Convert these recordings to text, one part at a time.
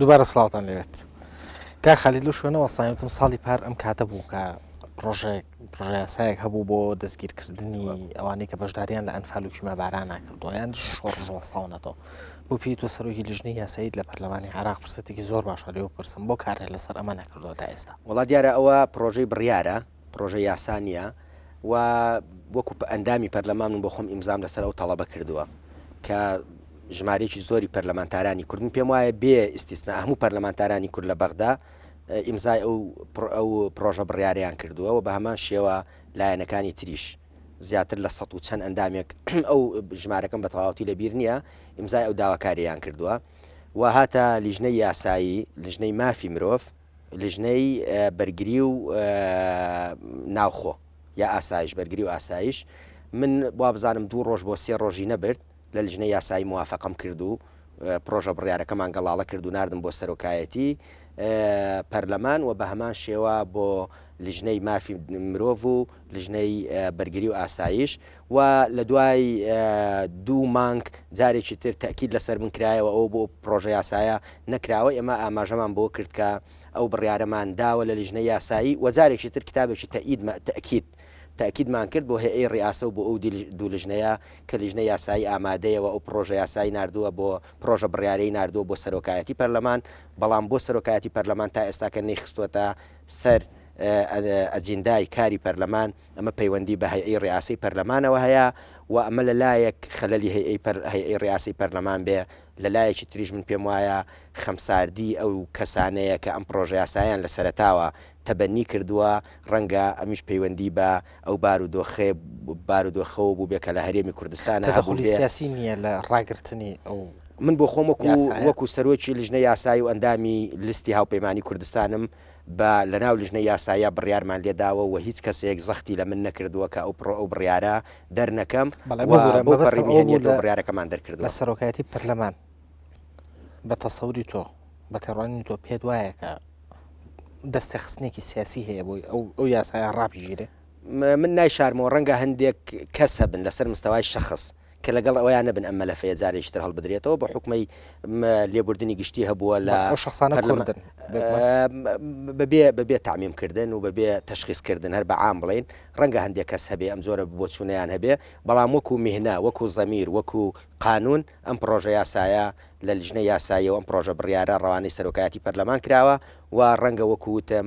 دووبارە سلااوان لێت کاک خالی لە شوێنەوە سایوتم ساڵی پار ئەم کاتە بوو کە پرۆژێک پرۆژەسایەک هەبوو بۆ دەستگیرکردنی ئەوانەی کە بەشداریان لە ئەنفالوکی مەباران ناکردو یان شۆڕژوەساونەتەوە بۆ پێی تۆ سەرۆکی لیژنی یاساییت لە پەرلەمانی عراق فرسەتێکی زۆر باشە لێو پرسم بۆ کارێ لەسەر ئەمە نەکردووە تا ئێستا وڵات دیارە ئەوە پرۆژەی بڕیارە پڕۆژە یاسا نییە و وەکو ئەندامی پەرلەمان من بۆ خۆم ئیمزام لەسەر ئەو تەڵەبە کردووە کە ژمارەیەکی زۆری پەرلەمانتارانی کورد من پێم وایە بێ ئیسیسنا هەموو پەرلەمانتارانی کورد لە بەغدا ئیمزای ئەو ئەو پرۆژە بڕیاریان کردووە و بە هەمان شێوە لایەنەکانی تریش زیاتر لە سە و چەند ئەندامێک ئەو ژمارەکەم بە تەواوەتی لەبیر نییە ئیمزای ئەو داواکاریان کردووە و هاتە لیژنەی یاسایی لیژنەی مافی مرۆڤ لیژنەی بەرگری و ناوخۆ یا ئاسایش بەرگری و ئاسایش من وابزانم دوو ڕۆژ بۆ سێ ڕۆژی نەبرد لە لیژنە یاسایی موواافقم کرد و پرۆژە بڕارەکەمان گەڵاڵە کرد و نردم بۆ سەرۆکایەتی پەرلەمان و بە هەمان شێوە بۆ لیژنەی مافی مرۆڤ و لیژنەی بەرگری و ئاسایش و لە دوای دوو مانگ جارێکی تر تەئکید لە سەر من کرایەوە ئەوە بۆ ئەو پڕۆژە یاسایە نەکراوە، ئێمە ئاماژەمان بەوە کرد کە ئەو بڕیارەمان داوە لە لیژنەی یاسایی و جارێکی تر کتابێکی تەئید مە تەئکید تەئکیدمان کرد بۆ هێئەی ڕیئاسە و بۆ ئەو دی دوو لیژنەیە کە لیژنەی یاسایی ئامادەیە و ئەو پڕۆژە یاسایی ناردووە بۆ پڕۆژە بڕیارەی ناردووە بۆ سەرۆکایەتی پەرلەمان بەڵام بۆ سەرۆکایەتی پەرلەمان تا ئێستاکە نەیخستووەتە سەر ئە ئەجیندای کاری پەرلەمان. ئەمە پەیوەندی بە هەیئەی ڕیئاسەی پەرلەمانەوە هەیە و ئەمە لە لایەک خەلەلی هەیئەی پەر هەیئەی ڕیئاسەی پەرلەمان بێ لە لایەکی تریش من پێم وایە خەمساردی ئەو کەسانەیە کە ئەم پڕۆژە یاسایەیان لە سەرەتاوە تەبەنی کردووە ڕەنگە ئەمیش پەیوەندی بە ئەو بارو دۆخەی بارو دۆخەوە بووبێ کە لە هەرێمی کوردستانا هەبووبێ. تەدەخولی سیاسی نییە لە ڕاگرتنی ئەو یاسایە؟ من بۆ خۆم وەکوو وەکوو سەرۆکی لیژنەی یاسایی و ئەندامی لیستی هاوپەیمانی کوردستانم، بە لەناو لژنەی یاساییا بڕیارمان لێ داوە و هیچ کەسێک زەختی لە من نەکردووە کە ئەو پڕۆ ئەو بڕیارە دەرنەکەم و بەو پەڕی مهنییەت ئەو بڕیارەکەمان دەرکردووە. بەڵێ مەبەستم ئەوە بوو لە سەرۆکایەتی پەرلەمان بە تەسەوری تۆ، بە تێڕوانینی تۆ پێت وایە کە دەستێخستنێکی سیاسی هەیە بۆی ئەو یاسایە ڕابگیرێ؟ من نایشارمەوە ڕەنگە هەندێک کەس هەبن لەسەر مستەوای شەخس، کە لەگەڵ ئەوەیا نەبن ئەم مەلەفەیە جارێکی تر هەڵبدرێتەوە بە حکومەی لێبوردنی گشتی هەبووە لە ئەو شخصانە کوردن بەبێ بەبێ تعمیم کردن و بەبێ تشخیص کردن هەر بە عام بڵین ڕەنگە هەندێک کەس هەبێ ئەم زۆرە بۆ چوونیان هەبێ بەڵام وەکو میهنا وەکو زەمیر وەکو قانون ئەم پرۆژە یاسایە لە لژنە یاساییەوە ئەم پرۆژە بڕیارە ڕەوانەی سەرۆکایەتی پەرلەمان کراوە و ڕەنگە وەکوتم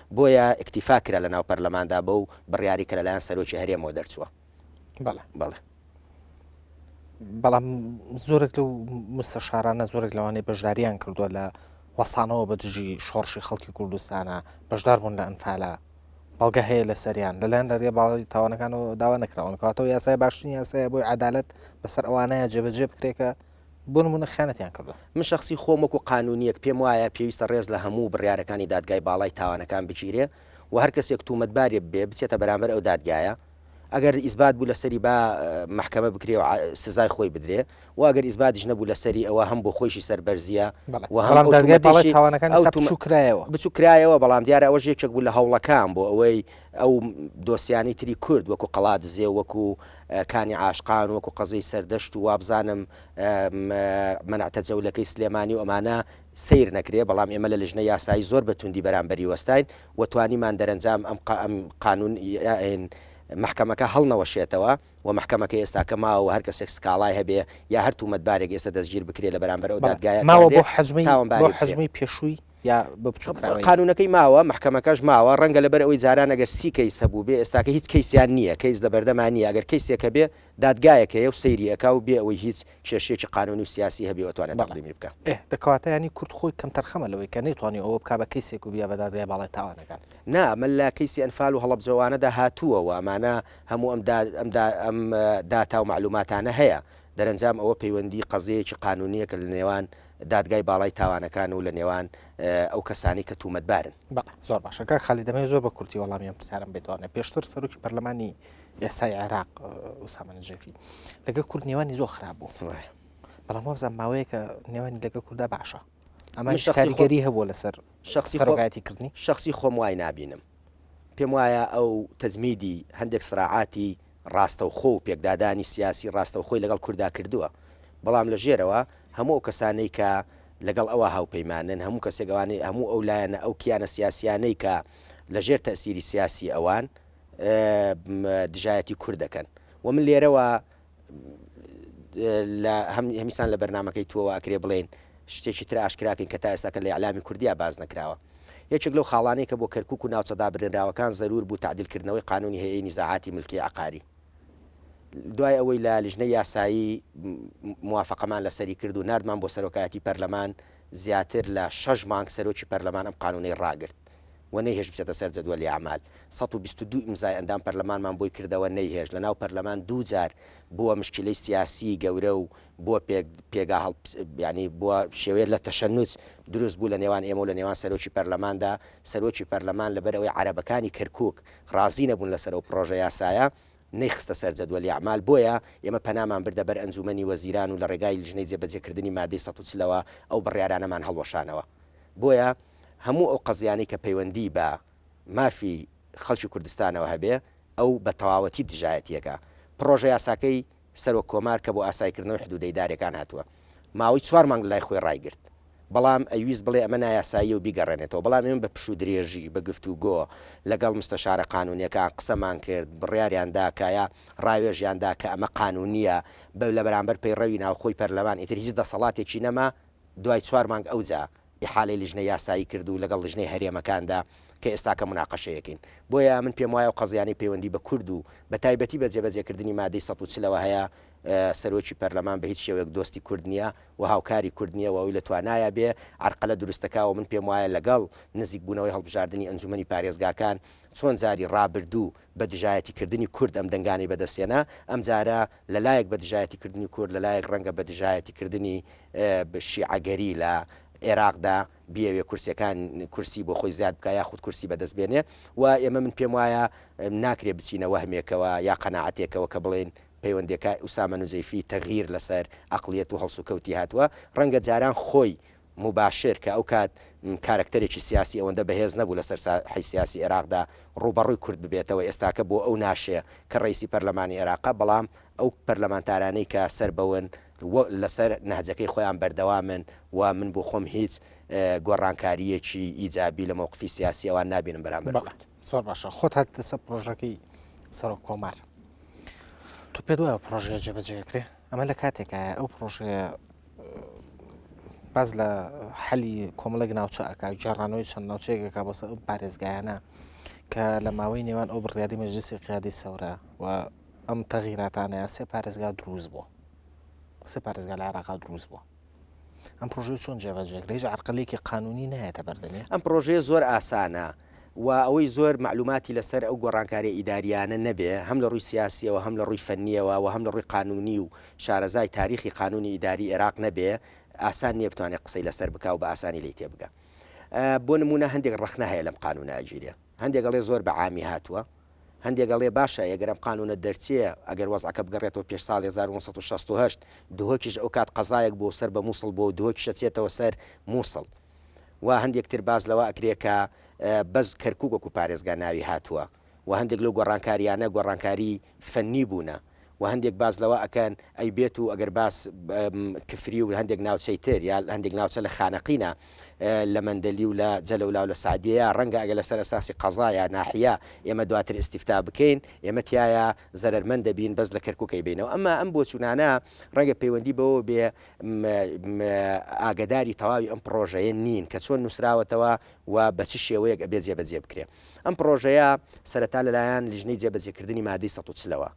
بۆیە ئیکتیفا کرا لەناو پەرلەماندا بەو بڕیاری کە لەلایەن سەرۆکی هەرێمەوە دەرچووە. بەڵێ. بەڵێ. بەڵام زۆرێک لەو مستەشارانە زۆرێک لەوانەی بەشداریان کردووە لە وەسانەوە بە دژی شۆڕشی خەڵکی کوردستانە بەشدار بوون لە ئەنفالە بەڵگە هەیە لە سەریان لەلایەن دەریێ باڵی تاوانەکانەوە داوا نەکراون کاتەوە یاسای باشترین یاسایە بۆی عدالت بەسەر ئەوانەیە جێبەجێ بکرێکە بۆ نموونە خیانەتیان کردووە. من شەخسی خۆم وەکو قانونییەک پێم وایە پێویستە ڕێز لە هەموو بڕیارەکانی دادگای باڵای تاوانەکان بگیرێ و هەر کەسێک توومەتبارێ ببێ بچێتە بەرامبەر ئەو دادگایە ئەگەر ئیسبات بوو لەسەری با مەحکەمە بکرێ و سزای خۆی بدرێ و ئەگەر ئیسباتیش نەبوو لەسەری ئەوە هەم بۆ خۆیشی سەربەرزیە بەڵێ و هەم بەڵام ئەو دادگای باڵای توومەتەشی تاوانەکان ئەو ئێستا توومە بچووک کرایەوە. بچووک کرایەوە بەڵام دیارە ئەوەش یەکێک بوو لە هەوڵەکان بۆ ئەوەی ئەو دۆسیانەی تری کورد وەکو قەڵادزێ و وەکو کانی عاشقان وەکو قەزێی سەردەشت و وابزانم مەنەتە جەولەکەی سلێمانی و ئەمانە سەیر نەکرێ بەڵام ئێمە لە لژنە یاسایی زۆر بە توندی بەرامبەری وەستاین و توانیمان دەرەنجام ئەم ئەم قانون محکەمەکە هەڵنەوەشێتەوە و محکەمەکە ئێستاکە ماوە و هەر کەسێک سکاڵای هەبێ یا هەر تومەتبارێک ئێستا دەستگیر بکرێ لە بەرامبەر ئەو دادگایە ماوە بۆ حەجمی تاوانباری بۆ حەجمی پێشووی یا بە بچووکراوەی. قانوونەکەی ماوە، مەحکەمەکەش ماوە، ڕەنگە لەبەر ئەوەی جاران ئەگەر سی کەیس هەبووبێ، ئێستاکە هیچ کەیسیان نییە، کەیس لە بەردەما نییە، ئەگەر کەیسێک هەبێ دادگایەک هەیە و سەیری ئەکا و بێ ئەوەی هیچ کێشەیەکی قانوونی و سیاسی هەبێ و ئەتوانێ تەقدیمی بکا. ئێ، دە کەواتە یانی کورد خۆی کەمتەرخەمە لەوەی کە نەیتوانی ئەوە بکا بە کەیسێک و بیا بە دادگای باڵای تاوانەکان. نا، ئەمە لە کەیسی ئەنفال و هەڵەبجەوانەدا هاتووە و ئەمانە هەموو ئەم دا ئەم دا ئەم داتا و مەعلووماتانە هەیە، دەرەنجام ئەوە پەیوەندی قەزیەیەکی قانوونییە کە لە نێوان دادگای باڵای تاوانەکان و لە نێوان ئەو کەسانەی کە تومەتبارن. بەڵێ زۆر باشە کاک خالید دەمەوێت زۆر بە کورتی وەڵامی ئەم پرسیارەم بێتوانێ پێشتر سەرۆکی پەرلەمانی ئێستای عێراق ئوسامە نجێفی لەگە کورد نێوانی زۆر خراپ بوو بەڵام وابزان ماوەیەکە نێوانی لەگە کووردا باشە ئەمە شخاریگەری هەبوو لەسەر شخصی سەرۆکایەتی کردنی شخصی خۆم وای نبینم پێم وایە ئەو تەجمیدی هەندێک سراعاتی ڕاستەوخۆ و پێکدادانی سیاسی ڕاستەوخۆی لەگەڵ کورددا کردووە، بەڵام لە ژێرەوە هەموو ئەو کەسانەی کە لەگەڵ ئەوە هاوپەیمانن، هەموو کەسێک ئەوانەی، هەموو ئەو لایەنە، ئەو کیانە سیاسییانەی کە لە ژێر تەئسیری سیاسی ئەوان دژایەتی کورد دەکەن و من لێرەوە لە هەمیسان لە بەرنامەکەی توەوە ئەکرێ بڵێین شتێکی تر ئاشکرا کەین کە تا ئێستا کە لە ئیعلامی کوردیا باس نەکراوە. یەکێک لەو خاڵانەی کە بۆ کەرکووک و ناوچە دابرێنراوەکان زەروور بوو تەعدیل کردنەوەی قانوونی هەیئەی نیزاعاتی ملکی عەقاری دوای ئەوەی لە لیژنەی یاسایی موافەقەمان لەسەری کرد و ناردمان بۆ سەرۆکایەتی پەرلەمان زیاتر لە شەش مانگ سەرۆکی پەرلەمان ئەم قانوونەی ڕاگرت. و نەیهێشت بچێتە سەر جەدوەلی ئەعمال، سەد و بیست و دوو ئیمزای ئەندام پەرلەمانمان بۆی کردەوە نەیهێشت، لەناو پەرلەمان دوو جار بووە مشکیلەی سیاسیی گەورە و بووە پێک پێگا هەڵ یانی بووە شێوەیە لە تەشەنوج دروست بوو لە نێوان ئێمە و لە نێوان سەرۆکی پەرلەماندا، سەرۆکی پەرلەمان لەبەر ئەوەی عەرەبەکانی کەرکووک ڕازی نەبوون لەسەر ئەو پڕۆژە یاسایە، نەیخستە سەر جەدوەلی ئەعمال، بۆیە ئێمە پەنامان بردە بەر ئەنجوومەنی وەزیران و لە ڕێگای لجنەی جێبەجێکردنی مادەی سەد و چل ەوە ئەو بڕیارانەمان هەڵوەشانەوە، بۆیە. هەموو ئەو قەزیانەی کە پەیوەندی بە مافی خەڵکی کوردستانەوە هەبێ ئەو بە تەواوەتی دژایەتییەکە پڕۆژە یاساکەی سەرۆک کۆمار کە بۆ ئاسایکردنەوەی حدوودە ئیدارییەکان هاتووە ماوەی چوار مانگ لای خۆی ڕایگرت بەڵام ئەیویست بڵێ ئەمە نایاساییە و بیگەڕێنێتەوە بەڵام ئێمە بە پشوودرێژی بە گفتوگۆ لەگەڵ مستەشارە قانوونییەکان قسەمان کرد بڕیاریان دا کە یا ڕاوێژیان دا کە ئەمە قانوونییە بە لە بەرامبەر پەیڕەوی ناوخۆی پەرلەمان ئیتر هیچ دەسەڵاتێکی نەما دوای چوار مانگ ئەوجا ئیحالەی لیژنەی یاسایی کرد و لەگەڵ لیژنەی هەرێمەکاندا کە ئێستاکە موناقەشەیەکەین. بۆیە من پێم وایە ئەو قەزیانەی پەیوەندی بە کورد و بە تایبەتی بە جێبەجێکردنی مادەی سەد و چل ەوە هەیە، سەرۆکی پەرلەمان بە هیچ شێوەیەک دۆستی کورد نییە و هاوکاری کورد نییە و ئەوی لە توانایا بێ عەرقەلە دروستەکا و من پێم وایە لەگەڵ نزیکبوونەوەی هەڵبژاردنی ئەنجومەنی پارێزگاکان چۆن جاری ڕابردوو بە دژایەتی کردنی کورد ئەم دەنگانەی بەدەست هێنا، ئەمجارە لە لایەک بە دژایەتی کردنی کورد لە لایەک ڕەنگە بە دژایەتی کردنی شیعەگەری لە ئێراقدا بیەوێ کورسیەکان کورسی بۆ خۆی زیاد بکا یاخود کورسی بەدەست بێنێ و ئێمە من پێم وایە ناکرێ بچینە وەهمێکەوە یا قەناعەتێکەوە کە بڵێین پەیوەندێکە ئوسامە نوجەیفی تەغیر لەسەر ئەقڵیەت و هەڵسوکەوتی هاتوە ڕەنگە جاران خۆی موباشر کە ئەو کات کارەکتەرێکی سیاسی ئەوەندە بەهێز نەبوو لەسەر ساحەی سیاسی ئێراقدا ڕووبەڕووی کورد ببێتەوە، ئێستاکە بۆ ئەو ناشێ کە ڕەیسی پەرلەمانی ئێراقە، بەڵام ئەو پەرلەمانتارانەی کە سەر بەون و لەسەر نەهجەکەی خۆیان بەردەوامن و من بۆ خۆم هیچ گۆڕانکارییەکی ئیجابی لە مەوقفی سیاسی ئەوان نابینم بەرامبەر کورد. زۆر باشە خۆت هاتیتە سەر پرۆژەکەی سەرۆک کۆمار. تۆ پێت وایە پرۆژەیە جێبەجێ ئەکرێ؟ ئەمە لە کاتێکایە ئەو پرۆژەیە باس لە حەلی کۆمەڵێک ناوچە ئەک جارانەوەی چەند ناوچەیەکەکە بەسە ئەو پارێزگایانە کە لە ماوەی نێوان ئەو بڕیاری مەجلسی قیادی سەورە و ئەم تەغیراتانەیە سێ پارێزگا دروست بووە سێ پارێزگا لە عراقا دروست بووە ئەم پرۆژەی چۆن جێبەجێکرێژ عقلێکی قانونی نایەتە بەردەێ ئەم پرۆژەیە زۆر ئاسانە و ئەوەی زۆر مەعلوماتی لەسەر ئەو گۆڕانکاریە ئیداریانە نەبێ هەم لە ڕووی سیاسیەوە هەم لە ڕووی فەنیەوە و هەم لە ڕووی قانونی و شارەزای تاریخی قانونی ئیداری ئێراق نەبێ ئاسان نیە بتوانێ قسەی لەسەر بکا و بە ئاسانی لێی تێ بگا بۆ نمونە هەندێک ڕەخنە هەیە لەم قانونە ئەگیرێ هەندێک ئەڵێ زۆر بە عامی هاتووە هەندێک ئەڵێ باشە ئەگەر ئەم قانونە دەرچێ ئەگەر وەزعەکە بگەڕێتەوە پێش ساڵی 1968 دهۆکیش ئەوکات قەزایەک بۆ سەر بە مووسڵ بۆ دهۆکیشە چێتەوە سەر مووسڵ و هەندێک تر باس لەوە ئەکرێ کە بەس کەرکوک وەکو پارێزگا ناوی هاتووە و هەندێک لەو گۆڕانکاریانە گۆڕانکاری فەنی بوونە و هەندێک باس لەوە ئەکەن ئەی بێت و ئەگەر باس کفری و هەندێک ناوچەی تر یا هەندێک ناوچە لە خانەقینە لە مەندەلی و لە جەلەولا و لە سعدیە ڕەنگە ئەگە لەسەر ئەساسی قەزا یا ناحیە ئێمە دواتر ئیستیفتا بکەین ئێمە تایە زەرەرمەند دەبین بەس لە کەرکوکەی بینەوە ئەما ئەم بۆچوونانە ڕەنگە پەیوەندی بەوە بێ ئاگەداری تەواوی ئەم پڕۆژەیە نین کە چۆن نووسراوەتەوە و بە چ شێوەیەک ئەبێ جێبەجێ بکرێ. ئەم پڕۆژەیە سەرەتا لەلایەن لیژنەی جێبەجێکردنی مادەی سەد و چلەوە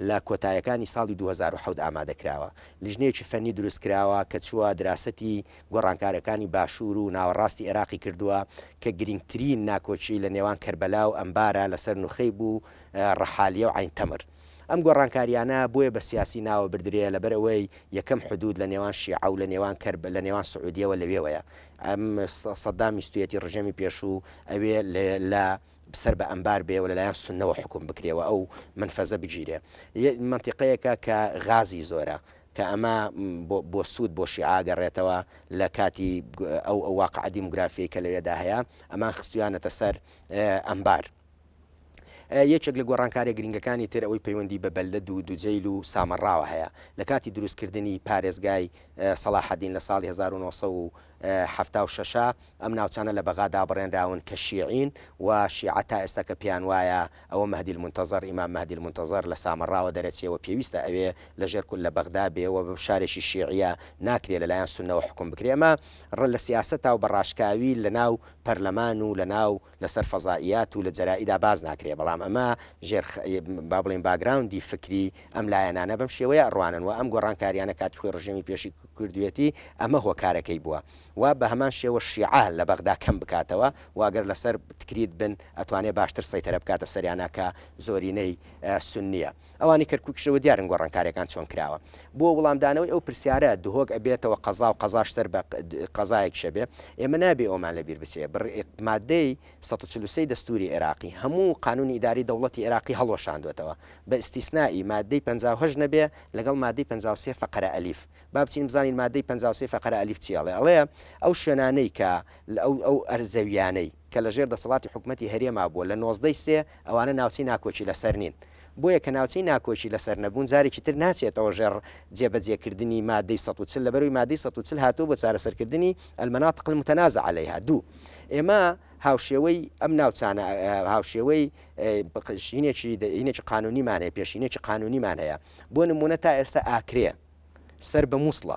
لە کۆتایەکانی ساڵی دوو هەزار و حەوت ئامادە کراوە. لیژنەیەکی فەنی دروست کراوە کە چووە دراسەتی گۆڕانکارەکانی باشوور و ناوەڕاستی ئێراقی کردووە کە گرینگترین ناکۆکی لە نێوان کەربەلا و ئەنبارا لەسەر نوخەیب و ڕەحالیە و عەین تەمر. ئەم گۆڕانکاریانە بۆیە بە سیاسی ناوە بردرێ لەبەر ئەوەی یەکەم حدود لە نێوان شیعە و لە نێوان کەرب لە نێوان سعودیەوە لەوێوەیە ئەم سەدام ویستویەتی ڕژێمی پێشوو ئەوێ لە سەر بە ئەمبار بێ و لەلایەن سنەوە حکوم بکرێەوە ئەو منفەزە بگیرێ منتیقەیەکە کە غازی زۆرە کە ئەمە بۆ سوود بۆ شیعاگەڕێتەوە لە کاتی ئەو ئەو واقع دیموگرافی کە لەوێدا هەیە ئەمان خستویانەتە سەر ئەمبار یەکێک لە گۆڕانکاریە گرینگەکانی تر ئەوەی پەیوەندی بە بەلدەد و دوجەیل و سامەڕاوە هەیە، لە کاتی دروستکردنی پارێزگای سەڵاحەدین لە ساڵی هەزار و نۆ سەد و حەفتا و شەش ئەم ناوچانە لە بەغا دابڕێنراون کە شیعین و شیعە تا ئێستا کە پێیان وایە ئەوە مەهدی المنتظر ئیمام مەهدی المنتظر لە سامەڕاوە دەرەچێ و پێویستە ئەوێ لە ژێر کول لە بەغدا بێ و شارێکی شیعیە ناکرێ لە لایەن سوننەوە حوکم بکرێ ئەمە لە سیاسەتا و بە ڕاشکاوی لە ناو پەرلەمان و لە ناو لەسەر فەزائیات و لە جەرائیدا باس ناکرێ، بەڵام ئەمە ژێر خ با بڵێین باگراوندی فکری ئەم لایەنانە بەم شێوەیە ئەڕوانن و ئەم گۆڕانکارییانە کاتی خۆی ڕژێمی پێشی ک کردوویەتی ئەمە هۆکارەکەی بووە و بە هەمان شێوە شیعە لە بەغدا کەم بکاتەوە و گەر لەسەر تکریت بن ئەتوانێ باشتر سەیتەرە بکاتە سەریانا کە زۆرینەی سوننییە. ئەوانی کەرکوکشەوە دیارن گۆڕانکارێکان چۆن کراوە بۆ وڵامدانەوەی ئەو پرسیارە دهۆک ئەبێتەوە قەزا و قەزاش سەر بە قەزایەکشە بێ ئێمە نابێ ئەومان لە بیر بچێ بڕ مادەی 143 دەستوری عێراقی هەموو قانونی ئیداری دەوڵەتی عێراقی هەڵوەشاندوێتەوە بە ئیستیسنائی مادەی 58 نەبێ لەگەڵ مادەی 53 فەقەرە ئەلیف با بچین بزانین مادەی 53 فەقەرە ئەلیف چی ئەڵێ ئەڵێ ئەو شوێنانەی کە ئەو ئەرزەویانەی کە لەژێر دەسەڵاتی حکومەتی هەرێما بووە لە نۆزدە ی سێ، ئەوانە ناوچەی ناکۆکی لەسەر نین. بۆیە کە ناوچەی ناکۆکی لەسەر نەبوون جارێکی تر ناچێتەوە ژێڕ جێبەجێکردنی مادەی سەد و چل لەبەرەوەی مادەی سەد و چل هاتووە بۆ چارەسەرکردنی، المناطق المتنازع علیها، دوو. ئێمە هاوشێوەی ئەم ناوچانە هاوشێوەی پێشینێکی پێشینێکی قانونیمان هەیە پێشینێکی قانونیمان هەیە بۆ نموونە تا ئێستا ئاکرێ سەر بە موسڵە،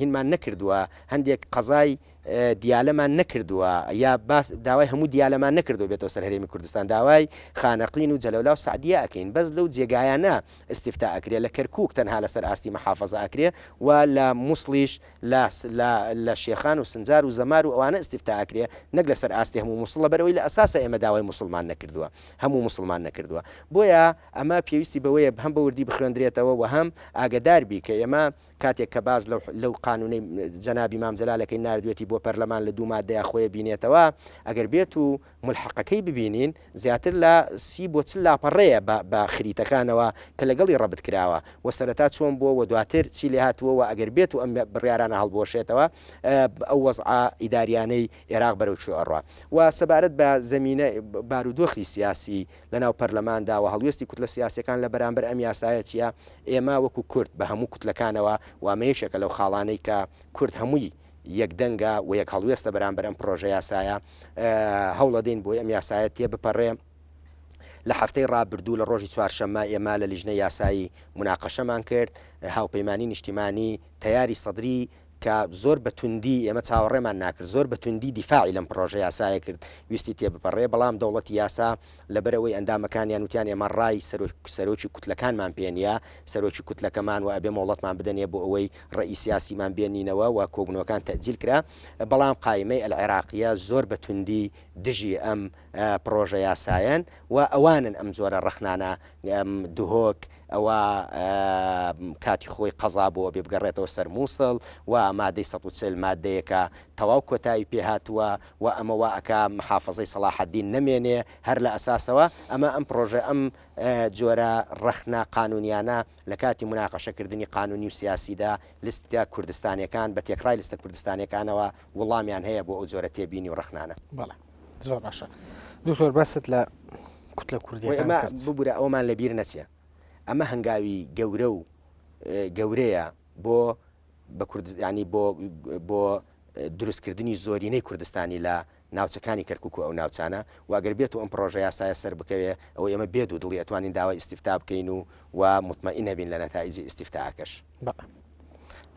هینمان نەکردووە هەندێک قەزای دیالەمان نەکردووە یا باس داوای هەموو دیالەمان نەکردو بێتەوە سەر هەرێمی کوردستان داوای خانەقین و جەلەولا و سعدیە ئەکەین بەس لەو جێگایانە استفتاء ئەکرێ لە کەرکوک تەنها لەسەر ئاستی محافظە ئەکرێ و لە موسڵیش لە لە لە شێخان و سنجار و زەمار و ئەوانە استفتاء ئەکرێ نەک لەسەر ئاستی هەموو موسڵ لەبەر ئەوەی لە ئەساسا ئێمە داوای موسڵمان نەکردووە هەموو موسڵمان نەکردووە بۆیە ئەمە پێویستی بەوەیە هەم بە وردی بخوێندرێتەوە وە هەم ئاگەدار بی کە ئێمە کاتێک کە باس لەو لەو قانوونەی جەنابی مام جەلالەکەی ناردوێتی بۆ پەرلەمان لە دوو مادەیا خۆی بینێتەوە ئەگەر بێتوو ملحقەکەی ببینین زیاتر لە سی بۆ چل لاپەڕەیە بە بە خریتەکانەوە کە لەگەڵی ڕەبت کراوە وە سەرەتا چۆن بووە وە دواتر چی لێهاتووە وە ئەگەر بێتو ئەم بڕیارانە هەڵبوەشێتەوە ئەو وەزعە ئیداریانەی ئێراق بەرەو کوێ ئەڕوا وە سەبارەت بە زەمینە بارودۆخی سیاسی لەناو پەرلەماندا وە هەڵوێستی کوتلە سیاسیەکان لە بەرامبەر ئەم یاسایە چیە ئێمە وەکو کورد بە هەموو کوتلەکانەوە وە ئەمە یەکێکە لەو خاڵانەی کە کورد هەمووی یەک دەنگە و یەک هەڵوێستە بەرامبەر ئەم پڕۆژەیاسایە، هەوڵەدەین بۆی ئەم یاسایە تێبپەڕێ، لە هەفتەی رابردوو لە رۆژی چوارشەممە ئێمە لە لیژنەی یاسایی موناقەشەمان کرد، هاوپەیمانیی نیشتیمانی تەیاری سەدری کە زۆر بە توندی ئێمە چاوەڕێمان ناکرد، زۆر بە توندی دیفاعی لەم پڕۆژەیاسایە کرد، ویستی تێبپەڕێ، بەڵام دەوڵەتی یاسا لەبەرئەوەی ئەندامەکانیان وتیان ئێمە ڕای سەرۆکی کوتلەکانمان پێنیە، سەرۆکی کوتلەکەمان وە ئەبێ مۆڵەتمان بدەنێ بۆ ئەوەی ڕێی سیاسیمان بێنینەوە وە کۆبونەوەکان تەئجیل کرا، بەڵام قایمەی ئەلعێراقیە زۆر بە توندی دژی ئەم پڕۆژە یاسایەن و ئەوانن ئەم جۆرە ڕەخنانە دهۆک ئەوە کاتی خۆی قەزا بۆ ئەبێ بگەڕێتەوە سەر موسڵ وە مادەی سەد و چل مادەیەکە تەواو کۆتایی پێ هاتوە وە ئەمە وا ئەکا محافەزەی سەڵاحەدین نەمێنێ، هەر لە ئەساسەوە ئەمە ئەم پڕۆژە ئەم جۆرە ڕەخنە قانوونیانە لە کاتی موناقەشە کردنی قانوونی و سیاسیدا لستە کوردستانیەکان بە تێکڕای لستە کوردستانیەکانەوە وڵامیان هەیە بۆ ئەو جۆرە تێبینی و ڕەخنانە. بەڵێ زۆر باشە دکتۆر باست لە کوتلە کوردیەکان کرد. ببورە ئەوەمان لە بیر نەچێ ئەمە هەنگاوی گەورە و گەورەیە بۆ بە کوردستانی بۆ بۆ دروستکردنی زۆرینەی کوردستانی لە ناوچەکانی کەرکک و ئەو ناوچانە واگەر بێت و ئەم پرۆژە یاسایە سەر بکەوێ ئەو ئێمە بێت و دڵی ئەتوانین داوای ئیسیفتا بکەین و و متمەئی نەبین لە نەتائیجی ئیسیفتاکەش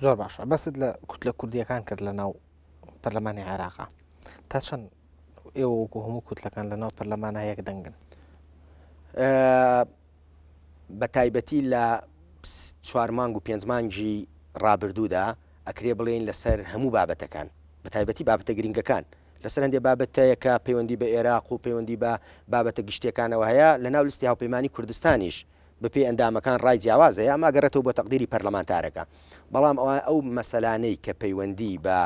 زۆر باشە بەست لە کوت لە کوردیەکان کرد لە ناو پەرلەمانی عێراقا تا چەند ئێوە وەکو هەموو کوتلەکان لە ناو پەرلەمانە یەک دەنگن بەتایبەتی لە چوار مانگ و پێنج مانگی ڕابردوودا ئەکرێ بڵێین لەسەر هەموو بابەتەکان بەتایبەتی بابەتە گرینگەکان لەسەر هەندێ بابەتەیە کە پەیوەندی بە ئێراق و پەیوەندی بە بابەتە گشتیەکانەوە هەیە لەناو لستی هاوپەیمانی کوردستانیش بەپێی ئەندامەکان ڕای جیاواز هەیە ئەمە ئەگەڕێتەوە بۆ تەقدیری پەرلەمانتارەکە بەڵام ئەوە ئەو مەسەلانەی کە پەیوەندی بە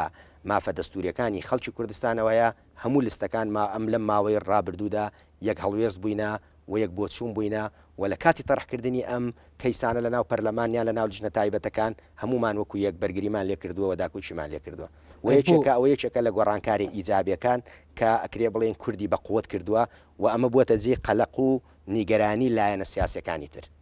مافە دەستووریەکانی خەڵکی کوردستانەوەیە هەموو لستەکان ما ئەم لەم ماوەی ڕابردوودا یەک هەڵوێست بووینە و یەک بۆچوون بووینە و لە کاتی تەڕحکردنی ئەم کەیسانە لەناو پەرلەمان یان لەناو لیژنە تایبەتەکان هەموومان وەکو یەک بەرگریمان لێ کردووە و داکۆکیمان لێ کردووە و یەکێکە ئەوە یەکێکە لە گۆڕانکارە ئیجابیەکان کە ئەکرێ بڵێین کوردی بە قوت کردووە و ئەمە بووەتە جێی قەلەق و نیگەرانی لایەنە سیاسیەکانی تر.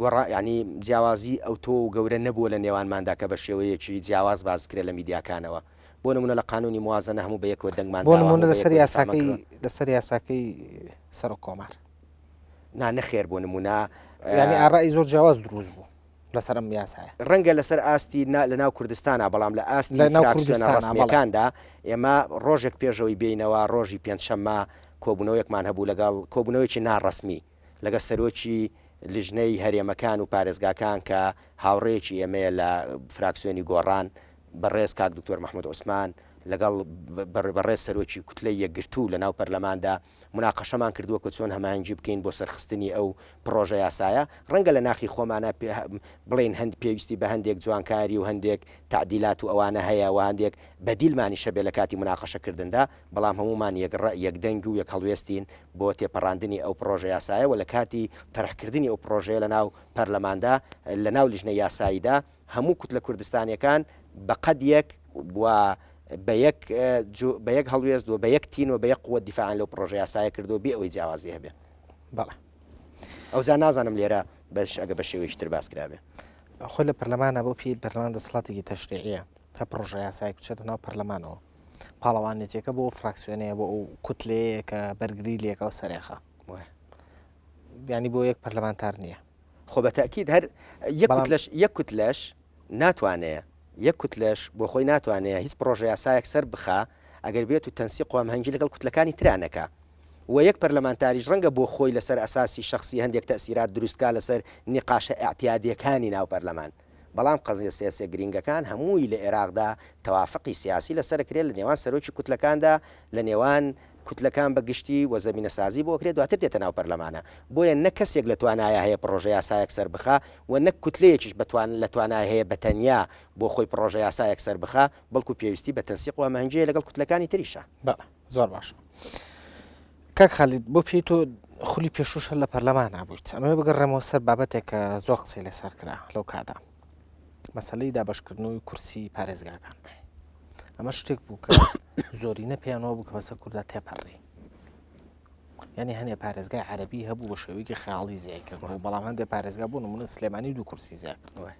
گۆڕان یانی جیاوازی ئەوتۆ و گەورە نەبووە لە نێوانماندا کە بە شێوەیەکی جیاواز باس بکرێت لە میدیاکانەوە. بۆ نموونە لە قانوونی موازەنە هەموو بە یەکەوە دەنگمان بۆ داوە، نموونە هەموو بە لەسەر یەکەوە یاساکەی ریکلاممان کردووە. لەسەر یاساکەی سەرۆک کۆمار. نا نەخێر بۆ نموونە. یانی ئارای زۆر جیاواز دروست بوو لەسەر ئەم یاسایە. رەنگە لەسەر ئاستی نا لە ناو کوردستانا بەڵام لە ئاستی لە ناو فراکسیۆنە کوردستانا بەڵێ. رەسمییەکاندا ئێمە رۆژێک پێش ئەوەی بێینەوە رۆژی پێنجشەممە کۆبوونەوەیەکمان هەبوو لەگەڵ کۆبوونەوەیەکی نا رەسمی. لەگەڵ سەرۆکی لیژنەی هەرێمەکان و پارێزگاکان کە هاوڕێیەکی ئێمەیە لە فراکسیۆنی گۆڕان بەڕێز کاک دکتۆر مەحمود عوسمان لەگەڵ بەڕێز سەرۆکی کوتلەی یەکگرتوو لە ناو پەرلەماندا مناقەشەمان کردووە کە چۆن هەماهەنگی بکەین بۆ سەرخستنی ئەو پڕۆژە یاسایە ڕەنگە لە ناخی خۆمانە بڵین هەند پێویستی بە هەندێک جوانکاری و هەندێک تعدیلات و ئەوانە هەیە و هەندێک بەدیلمانیشە بێ لە کاتی مناقەشەکردندا بەڵام هەموومان یەک ڕەئ، یەک دەنگ و یەک هەڵوێستین بۆ تێپەڕاندنی ئەو پڕۆژە یاسایە و لە کاتی تەرحکردنی ئەو پڕۆژەیە لە ناو پەرلەماندا، لە ناو لیژنەی یاساییدا، هەموو کوتلە کوردستانییەکان بە قەد یەک و بە یەک جو، بە یەک هەڵوێست و بە یەک تین و بە یەک قووەت دیفاعیان لەو پڕۆژە یاسایە کردووە بێ ئەوەی جیاوازی هەبێ. بەڵێ. ئەوجا نازانم لێرە بەش ئەگە بە شێوەیەکی تر باس کرابێ. خۆ لە پەرلەمانە بۆ پێی پەرلەمان دەسەڵاتێکی تەشریعییە تا پڕۆژە یاسایەک بچێتە ناو پەرلەمانەوە. پاڵەوانێتیەکە بۆ فراکسیۆنەیە بۆ ئەو کوتلەیە کە بەرگری لەکە و سەرێخە بیانی بۆ یەک پەرلەمانتار نییە خۆ بە تاکیید هەر یەک لەش یەک کوت لەش ناتوانەیە یەک کوت لەش بۆ خۆی ناتوانەیە هیچ پرۆژە یاسایەک سەر بخە ئەگەر بێت و تەنسی قوام هەنگی لەگەڵ کوتلەکانی ترانەکە و یەک پەرلەمانتاریش ڕەنگە بۆ خۆی لەسەر ئەساسی شخصی هەندێک تەسیرات دروستکە لەسەر نیقاشە ئەعتیادیەکانی ناو پەرلەمان بەڵام قەزیە سیاسیە گرینگەکان هەمووی لە ئێراقدا تەوافقی سیاسی لەسەر ئەکرێت لە نێوان سەرۆکی کوتلەکاندا لە نێوان کوتلەکان بە گشتی وە زەمینە سازی بۆ ئەکرێت دواتر دێتە ناو پەرلەمانە بۆیە نە کەسێک لە توانایە هەیە پڕۆژە یاسایەک سەر بخا وە نەک کوتلەیەکیش بە توان لە توانای هەیە بە تەنیا بۆ خۆی پڕۆژە یاسایەک سەر بخا بەڵکو پێویستی بە تەنسیق وە مهنجەیە لەگەڵ کوتلەکانی تریشا. زۆر باش کاک خەلید بۆ پێی تۆ خولی پێشوش هەر لە پەرلەمان نبوویت ئەمە بگەڕێمەوە سەر بابەتێک کە زۆر قسەی لەسەر کرا لەو کادا مەسلەی دابشکردنەوەی کورسی پارێزگاکان ئەمە شتێک بوو کە زۆرینە پێیانەوە بوو کە بەسە کووردا تێپەڕی ینی هەنێ پارێزگای عربی هەبوو بە شێوەیەکی خیاڵی زیای کردەوە بەڵام هەندێک پارێزگا بوون منە سلێمانی دوو کورسی زیاد کردەوە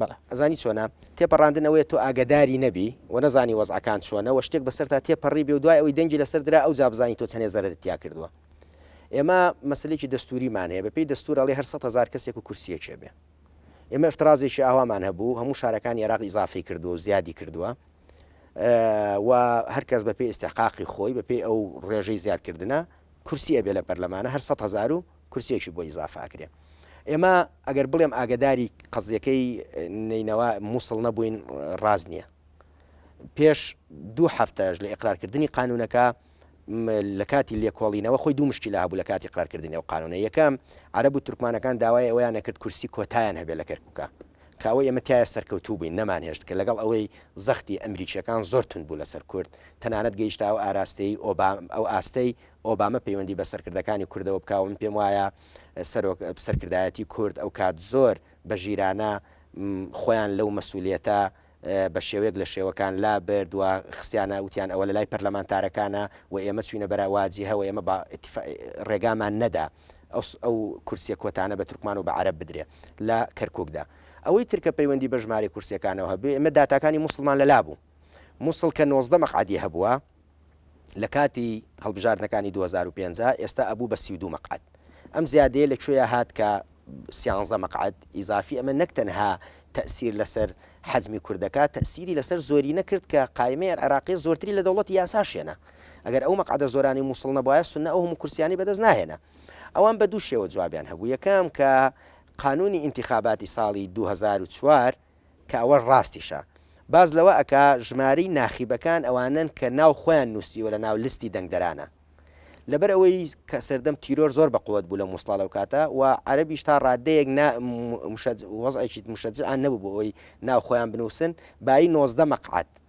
بەڵێ. ئەزانی چۆنە؟ تێپەڕاندن ئەوەیە تۆ ئاگەداری نەبی و نەزانی وەزعەکان چۆنە و شتێک بەسەرتا تێپەڕیبێ و دوای ئەوەی دەنگی لەسەر درا ئەوجا بزانی تۆ چەنێ زەرەرت تیا کردووە. ئێمە مەسەلەیەکی دەستووریمان هەیە، بەپێی دەستوور ئەڵێ هەر سەد هەزار کەسێک و کورسییەکێ بێ. ئێمە ئیفترازێکی ئاوامان هەبوو، هەموو شارەکانی عێراق ئیزافەی کردووە و زیادی کردووە و هەر کەس بەپێی ئیستحقاقی خۆی بەپێی ئەو ڕێژەی زیادکردنە کورسی ئەبێ لە پەرلەمانە هەر سەد هەزار و کورسیەکی بۆ ئیزافە ئەکرێ ئێمە ئەگەر بڵێم ئاگداری قەزیەکەی نینەوە مووسڵ نەبووین ڕاز نییە پێش دوو هەفتەش لە ئقرارکردنی قانونەکە لە کاتی لێکۆڵینەوە خۆی دوو مشکی لە هەبوو لە کاتی قرارکردنی و قانونە یەکەم عرب و تورکمانەکان داوای ئەویان نەکرد کورسی کۆتایان هەبێ لە کەرککە کاوە ئێمە تایە سەرکەوتوو بووین نەمان هێشت کە لەگەڵ ئەوەی زەختی ئەمریکیەکان زۆر تون بوو لەسەر کورد تەنانەت گەیشتاوە ئاراستەی ئۆبام ئەو ئاستەی ئۆبامە پەیوەندی بە سەرکردەکانی کوردەوە بکاو من پێم وایە سەرۆک سەرکردایەتی کورد ئەوکات زۆر بە ژیرانە خۆیان لەو مەسولیەتە بە شێوەیەک لە شێوەکان لا برد و خستیانە وتیان ئەوە لە لای پەرلەمانتارەکانە و ئێمە چوینە بەرە واجیهە و ئێمە بە ڕێگامان نەدا ئەو کورسیە کۆتانە بە تورکمان و بە عەرب بدرێ لە کەرکوکدا ئەوەی ترکە پەیوەندی بە ژمارەی کورسیەکانەوە هەبێ ئێمە داتاکانی موسڵمان لە لابوو موسڵ کە نۆزدە مەقعدی هەبووە لەکاتی هەڵبژاردنەکانی دوو هەزار و پێنج ئێستا ئەبوو بە سی و دوو مەقعەد ئەم زیادەیە لە کوێیا هات کە سیانزە مەقعەد ئیزافی ئەمە نەک تەنها تەئسیر لەسەر حەجمی کورد دەکات تەئسیری لەسەر زۆرینە کرد کە قایمەی عێراقی زۆرتری لە دەوڵەتی یاساش هێنا ئەگەر ئەو مەقعەدە زۆرانی مووسڵ نەبوایە سنە ئەو هەموو کورسیانی بەدەست ناهێنا ئەوان بە دوو شێوە جوابیان هەبوو یەکەم کە قانونی ئینتیخاباتی ساڵی 2004 کە ئەوەش ڕاستیشە. باس لەوە ئەکا ژمارەی ناخیبەکان ئەوانەن کە ناو خۆیان نووسیوە لە ناو لستی دەنگدەرانە. لەبەر ئەوەی کە سەردەم تیرۆر زۆر بە قوت بوو لە موسڵا لەو کاتە و عەرەبیش تا ڕاددەیەک نا مشەج وەزعێکی مشەجعیان نەبوو بۆ ئەوەی ناو خۆیان بنووسن بایی نۆزدە مەقعەد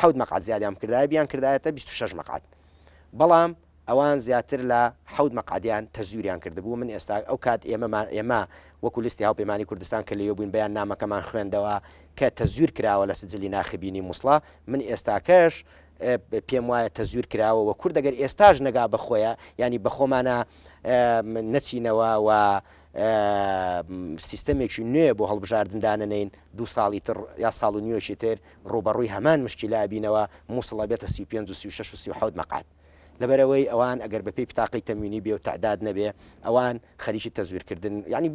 حەوت مەقعەد زیادیان بکردایە بیان کردایەتە بیست و شەش مەقعەد بەڵام ئەوان زیاتر لە حەوت مەقعەدیان تەزویریان کردبوو من ئێستا ئەو کات ئێمەمان ئێمە وەکو لیستی هاوپەیمانی کوردستان کە لێیۆ بووین بەیان نامەکەمان خوێندەوە کە تەزویر کراوە لە سجلی ناخبینی موسڵە من ئێستاکەش پێم وایە تەزویر کراوە و کورد دەگەر ئێستاش نەگا بەخۆیە ینی بەخۆمانە نەچینەوە و سیستەمێکی نوێ بۆ هەڵبژاردن دانەنێین، دوو ساڵی تر یا ساڵ و نیوێکی تر ڕووبەڕووی هەمان مشکیلە ئەبینەوە، مووسڵ ئەبێتە سی و پێنج و سی و شەش و سی و حەوت مەقعەد. لەبەرئەوەی ئەوان ئەگەر بەپێی پتاقەی تەموینی بێ و تەعداد نەبێ، ئەوان خەریکی تەزویرکردن، یەعنی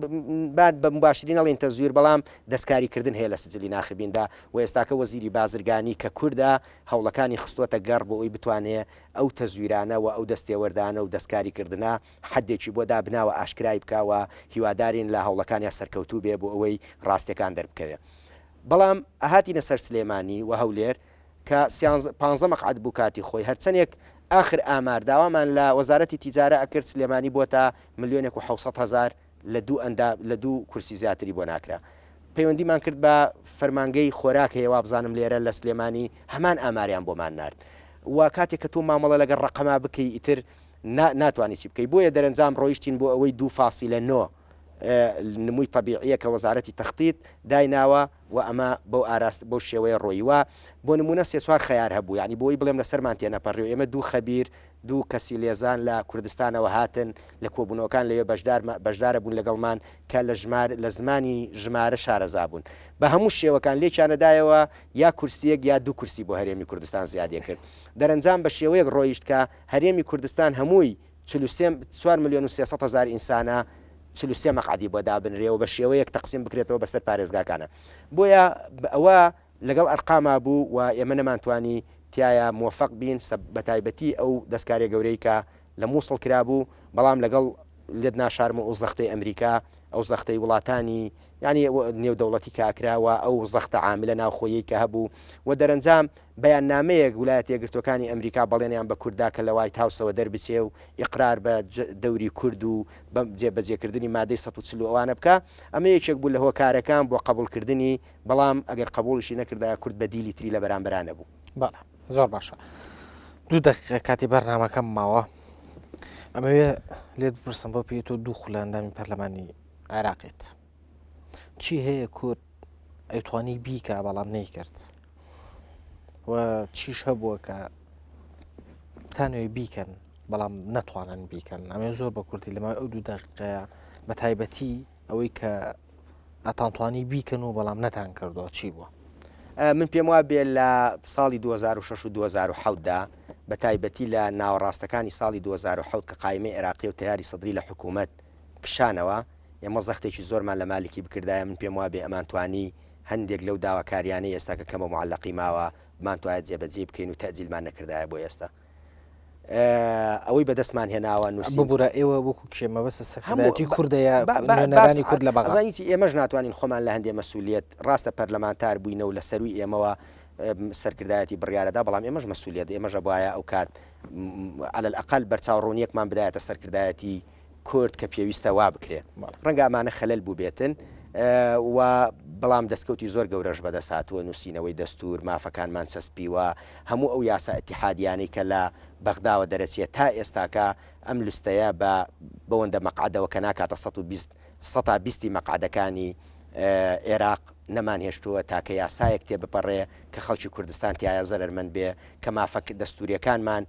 با بە موباشری نەڵێین تەزویر، بەڵام دەستکاریکردن هەیە لە سجلی ناخبیندا و ئێستاکە وەزیری بازرگانی کە کوردە، هەوڵەکانی خستووەتە گەڕ بۆ ئەوی بتوانێ ئەو تەزویرانە و ئەو دەستێوەردانە و دەستکاریکردنە حەدێکی بۆ دابناوە ئاشکرای بکا و هیوادارین لە هەوڵەکانیا سەرکەوتوو بێ بۆ ئەوەی ڕاستێکان دەربکەوێ بەڵام هاتینە سەر سلێمانی و هەولێر کە سیانزە پانزە مەقعەد بوو کاتی خۆی هەرچەنێک ئاخر ئامار داوامان لە وەزارەتی تیجارە ئەکرد سلێمانی بۆتە ملیۆنێک و حەوسەد هەزار لە دوو ئەندا لە دوو کورسی زیاتری بۆ ناکرا. پەیوەندیمان کرد بە فەرمانگەی خۆراک هەیە وابزانم لێرە لە سلێمانی هەمان ئاماریان بۆمان نارد و کاتێک کە تۆ مامەڵە لەگەڵ ڕەقەما بکەی ئیتر نا ناتوانی چی بکەی بۆیە دەرەنجام ڕۆیشتین بۆ ئەوەی دوو فاسیلە نۆ نمووی تەبیعیە کە وەزارەتی تەختیت دایناوە و ئەمە بەو ئاراست بەو شێوەیە ڕۆیی وا بۆ نموونە سێ چوار خەیار هەبوو یانی بۆی بڵێم لەسەرمان تێنەپەڕی و ئێمە دوو خەبیر دوو کەسی لێزان لە کوردستانەوە هاتن لە کۆبوونەوەکان لەوێ بەشدار بەشدارەبوون لەگەڵمان کە لە ژمار لە زمانی ژمارە شارەزا بوون بە هەموو شێوەکان لێکیانەدایەوە یا کورسیەک یا دوو کورسی بۆ هەرێمی کوردستان زیادی کرد دەرەنجام بە شێوەیەک ڕۆیشت کە هەرێمی کوردستان هەمووی چل و سێ چوار ملیۆن و سێ سەد هەزار ئینسانە چل و سێ مەقعەدی بۆ دابنرێ و بە شێوەیەک تەقسیم بکرێتەوە بەسەر پارێزگاکانە بۆیە ئەوە لەگەڵ ئەرقاما بوو و ئێمە نەمانتوانی تیایا مۆفەق بین سە بەتایبەتی ئەو دەسکارێ گەورەی کە لە موسڵ کرابوو بەڵام لەگەڵ لدنا شارم ئو زەختەی ئەمریکا ئەو زەختەی وڵاتانی یانی نێو دەوڵەتی کە ئەکرا و ئەو زەختە عاملە ناوخۆیەی کە هەبوو و دەرەنجام بەیان نامەیەک ولایەتە یەکگرتوەکانی ئەمریکا بەڵێنیان بە کورد دا کە لە وایت هاوسەوە دەربچێ و ئیقرار بە جە دەوری کورد و بە جێ بەجێ کردنی مادەی سەد و چل و ئەوانە بکا ئەمە یەکێک بوو لە هۆکارەکان بۆ قەبوڵ کردنی بەڵام ئەگەر قەبووڵیشی نەکردایە کورد بەدیلی تری لە بەرامبەرا نەبوو. بەڵێ زۆر باشە دوو دەقیقە کاتی بەرنامەکەم ماوە ئەمەوێ لێت بپرسم بۆ پێ تۆ دوو خولاندامی پەرلەمانی عێراقێت چی هەیە کورد ئەیتوانی بیکە بەڵام نەیکرد و چیش هەبووە کە تانوێ بیکەن بەڵام نەتوانن بیکەن ئەمێ زۆر بە کورتی لەمە ئەو دوو دەقەیە بە تایبەتی ئەوەی کە ئەتانتوانی بیکەن و بەڵام نەتان کردەوە چی بووە؟ من پێم وا بێ لە ساڵی 2006 و 2010دا بە تایبەتی لە ناوەڕاستەکانی ساڵی 2010 کە قایمەی عێراقی و تەیاری سەدری لە حکوومەت کشانەوە، ئێمە زەختێکی زۆرمان لە مالکی بکردایە، من پێم وا بێ ئەمانتوانی هەندێک لەو داواکارییانەی ئێستا کە کەمە موعەلەقی ماوە، بمانتوایە جێبەجێی بکەین و تەئجیلمان نەکردایە بۆ ئێستا. ئەوەی بەدەستمان هێناوە نووسی ببوورە ئێوە وەکو کێ مەبەسە سەکەمەتی کوردەیە بەنانی کورد لە بەغزانیی ئێمەش ناتوانین خۆمان لە هەندێ مەسوولیت ڕاستە پەرلەمانتار بووینە و لە سەروی ئێمەوە سەرکردایەتی بڕیارەدا بەڵام ئێمەش مەسوولیت ئێمەژە بواە ئەو کات على الأقل بەرچاو ڕوونیەکمان بدایەتە سەرکردایەتی کورد کە پێویستە وا بکرێ. ڕەنگە ئەمانە خەلەل بووبێتن و بەڵام دەستکەوتی زۆر گەورەش بەدەست هاتووە، نووسینەوەی دەستوور، مافەکانمان چەسپیوە، هەموو ئەو یاسا ئیتیحادییانەی کە لە بەغداوە دەرەچیە تا ئێستاکە ئەم لستەیە بە بەوەندە مەقعەدەوە کە ناکاتە سەد و بیست سەتا بیستی مەقعەدەکانی ئێراق نەمانهێشتووە تاکە یاسایەک تێبپەڕێ کە خەڵکی کوردستان تیایا زەرەرمەند بێ، کە مافە دەستوورییەکانمان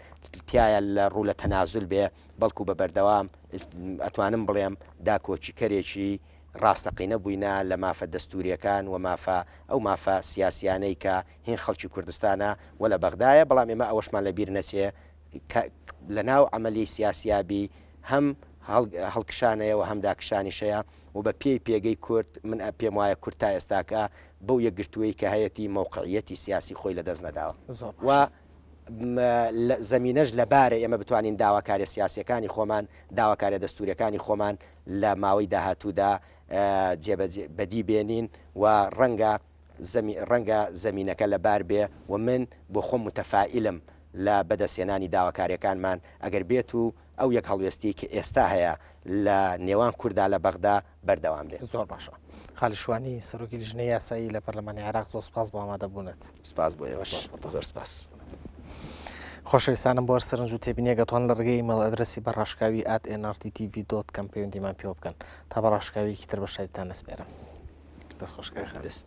تیایا لە ڕوو لە تەنازول بێ. بەڵکو بە بەردەوام ئەتوانم بڵێم داکۆکیکەرێکی ڕاستەقینە بووینە لە مافە دەستوورییەکان و مافە ئەو مافە سیاسییانەی کە هین خەڵکی کوردستانە و لە بەغدایە، بەڵام ئێمە ئەوەشمان لە بیر نەچێ کە لە ناو عەمەلیی سیاسیا بی هەم هەڵکشان هەیە و هەم داکشانیش هەیە و بە پێی پێگەی کورد من پێم وایە کورد تا ئێستاکە بەو یەکگرتوویی کە هەیەتی مەوقعییەتی سیاسی خۆی لە دەست نەداوە و زەمینەش لەبارە ئێمە بتوانین داواکاریە سیاسیەکانی خۆمان، داواکاریە دەستوریەکانی خۆمان لە ماوەی داهاتوودا بەدی بێنین و ڕەنگە ڕەنگە زەمینەکە لەبار بێ و من بۆ خۆم متەفائیلم لە بەدەستهێنانی داواکاریەکانمان ئەگەر بێت و ئەو یەک هەڵوێستیەی کە ئێستا هەیە لە نێوان کوردا لە بەغدا بەردەوام بێ. زۆر باشە خالد شوانی سەرۆکی لیژنەی یاسایی لە پەرلەمانی عێراق زۆر سپاس بۆ ئامادەبوونت. سپاس بۆ ئێوەش زۆر سپاس. خۆشەویستانم بۆ هەر سەرنج و تێبینیەکە توان لە ڕێگەی ئیمەڵ ئەدرەسی بە ڕاشکاوی at nrttv dot com پەیوەندیمان پێوە بکەن تا بە ڕاشکاویەکی تر بە شاریتان نەسپێرم دەست خۆشکار دەست.